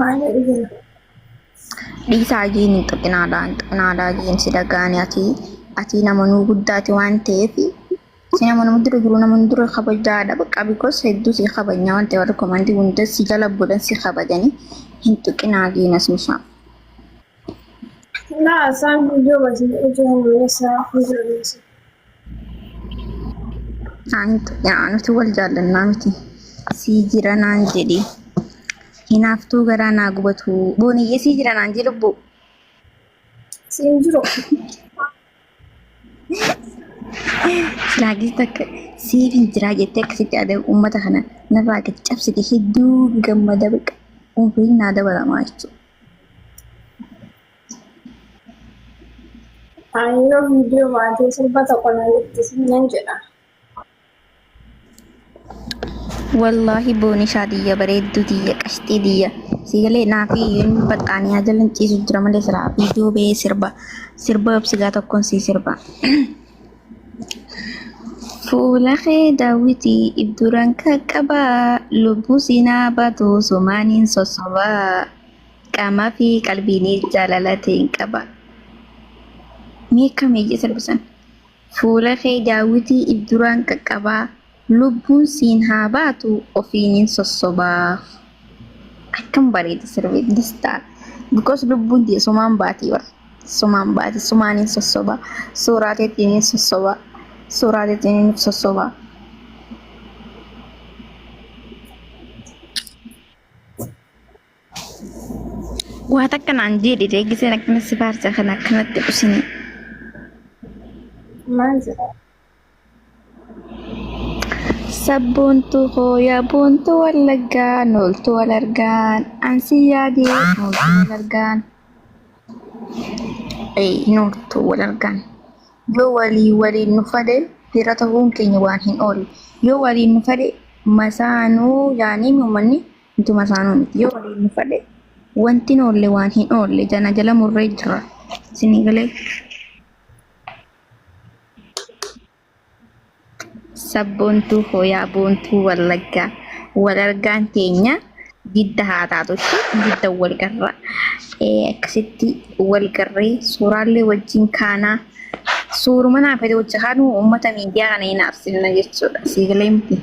Maal jedhu jira? Dhiisaa jiin hin xuqinaadhaa hin xuqinaadhaa jiin si dhagaani ati ati nama nuu guddaati waan ta'eef si nama nama dura jiru nama nu dura kabajaadha bakka bikos hedduu si kabajna waan ta'eef warri komantii hunda si jala godhan si kabajani hin xuqinaa jiin as mishaa. Laa isaan guyyoo wajjin ijoo hawweessaa hojjetu. nuti wal jaallannaa miti sii jira naan jedhi hinaaftuu garaa naa gubatu booniyyee sii jira naan jedhi lubbuu siin jiru laagii takka siif hin jiraa jettee akkasitti aadaa uummata kana narraa gad cabsite hedduu gammada baqa umriin naa dabalamaa jechuudha. Ani yoo viidiyoo baatee sirba tokko na guddisi nan jedha. Wallaahi boonishaa tiyya bareedduu tiyya qashxii tiyya siigalee naafii hin baxxaanii haa jalan ciisu jira malee siraa viidiyoo bee sirba sirba obsigaa tokkoon sii sirba. Fuula kee daawwitii ibduran qaqqabaa lubbuu siinaa baatu sumaaniin sossobaa. Qaamaa fi qalbiinii jaalala ta'een qaba. Mee akkam iyya sirbisan. Fuula kee daawwitii if duraan qaqqabaa lubbuun siin haa baatu ofiinin sossobaa. Akkam bareeda sirbi distaa. Because lubbuun tiyya sumaan baati bar. Sumaan baati sumaanin sossobaa. Suuraa teettiin sossobaa. Suuraa teettiin sossobaa. Waa takka naan jeedhi ree giseen akkana si faarsa kana akkanatti dhusini. Maal jedha? Sabboontuu koo yaa boontuu wallaggaa nooltuu wal argaan ansi yaadee nooltuu wal argaan. Ee nooltuu wal argaan. Yoo walii waliin nu fade fira ta'uun keenya waan hin oolu. Yoo waliin nu fade masaanuu yaanii uummanni Ituma isaanuu miti yoo waliin nu fadhe wanti hin oolle waan hin oolle jana jala murree jira. Isinii galee sabboontuu hooyaa boontuu wallaggaa wal argaan teenya didda haa taatu ishee didda wal garra Eh, akkasitti wal garree suuraallee wajjin kaanaa suuruma naa fedhe wajji kaanuu uummata miidiyaa kana hin aarsinna jechuudha. Sii galee miti.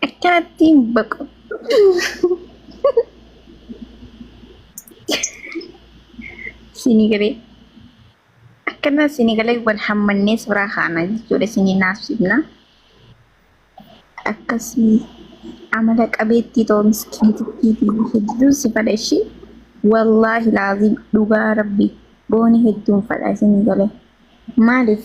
Akkaattiin baqu. Sinigalee. Akkana sinigalee wal hammannee suuraa kaana jechuudha sinii naasifna. Akkasii amala qabeettii ta'uu miskiitittii fi hedduun si fadha ishii. Wallaahi laaziim dhugaa rabbi booni hedduun fadha sinigalee. Maaliif?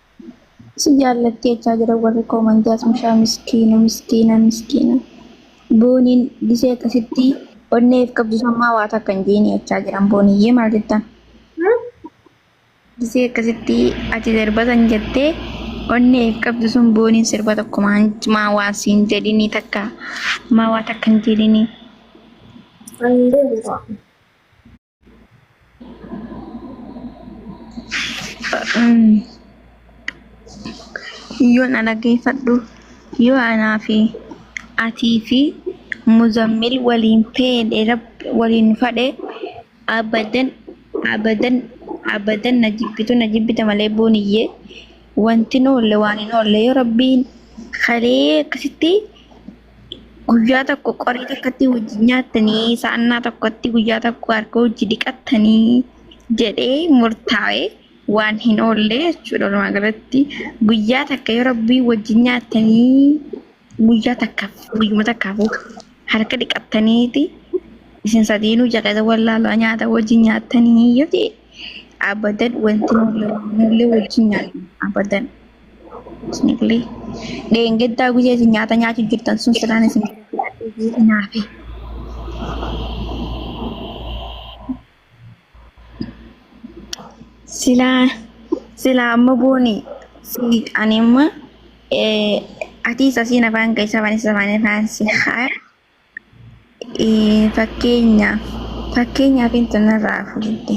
Si jaallatti jechaa jira warri koomantii as mishaa miskiina miskiina miskiina. Booniin gisee akkasitti onneef qabdu sammaa waa takka hin jeeni jechaa jiran booniyyee maal jettan. Gisee akkasitti ati sirbatan jettee onneef qabdu sun booniin sirba tokko maa waa siin jedhinii takka maa waa takka hin jedhinii. Ani hin deemu ta'a. Yoon ana geeffadhu yoo anaa fi atii fi muzammil waliin feedhe rabbi waliin fadhe abadan abadan abadan na jibbitu na jibbita malee booniyyee wanti hin oolle waan hin oolle yoo rabbiin kalee akkasitti Guyyaa tokko qorii takkatti hojii nyaattanii sa'annaa tokkotti guyyaa tokko harka hojii dhiqattanii jedhee murtaa'e waan hin oolle jechuudha. Walumaa galatti guyyaa takka yoo rabbii wajjin nyaattanii guyyaa takkaaf guyyuma takkaafuu harka dhiqattaniiti isin sadiinuu jaqeessa wallaalaa nyaata wajjin nyaattanii yoo ta'e abadan wanti hin oolle wajjin nyaatan abadan. Isniqli. Dheengaddaa guyyaa isin nyaata nyaachuu jirtan sun silaan isin galateeffadhee jee hinaafe. Silaa silaa amma booni si ani amma eh, atis asiin afaan kee isa afaan isa afaan afaan si haa eh, fakkeenyaaf fakkeenyaaf intanarraa fudhadhe.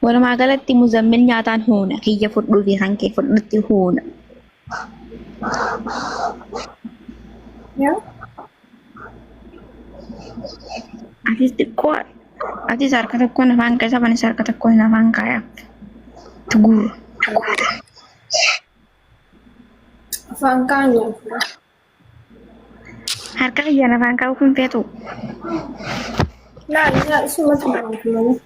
Walumaa galatti muzammil nyaataan huuna kiyya fudhuu fi kan kee fudhutti huuna. Atis xiqqoo atis harka tokkoon afaan keessa banis harka tokkoon afaan kaaya. Tuguur. Afaan kaan Harka kiyyaan afaan kaa'uu kun feetu. Laal yaa isuma tumaati malee.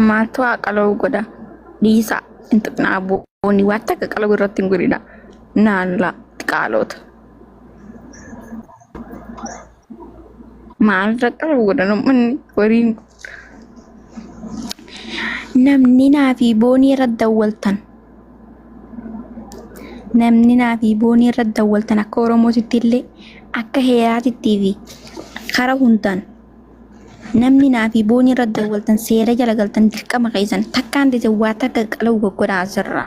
Maaltu haa qala'u godha? Dhiisaa hin tuqnaa booni waan takka qala'u irratti hin godhina. Naanula xiqaaloota. Maal fakkata godhan ummanni horiin kun. Namni naa fi boonii irra dawwaltan. Namni naa fi boonii irra dawwaltan akka Oromootitti illee akka heeraatittii fi kara hundaan namni naa fi boonii irra dawwaltan seera jala galtan dirqama keessan takkaan dite waa takka qaluu goggodhaa asirraa.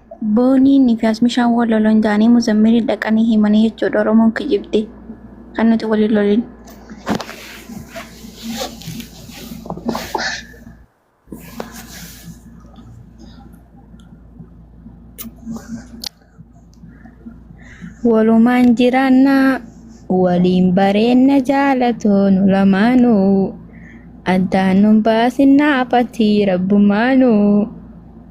Booniin fi Asmishaan wal lolan jaanii Muzammiriin dhaqanii himanii jechuudha Oromoon kijibde kan nuti waliin lolin. Walumaan jiraannaa waliin bareenna jaalatoonu lamaanuu addaan nun baasinaa fatii rabbumaanuu.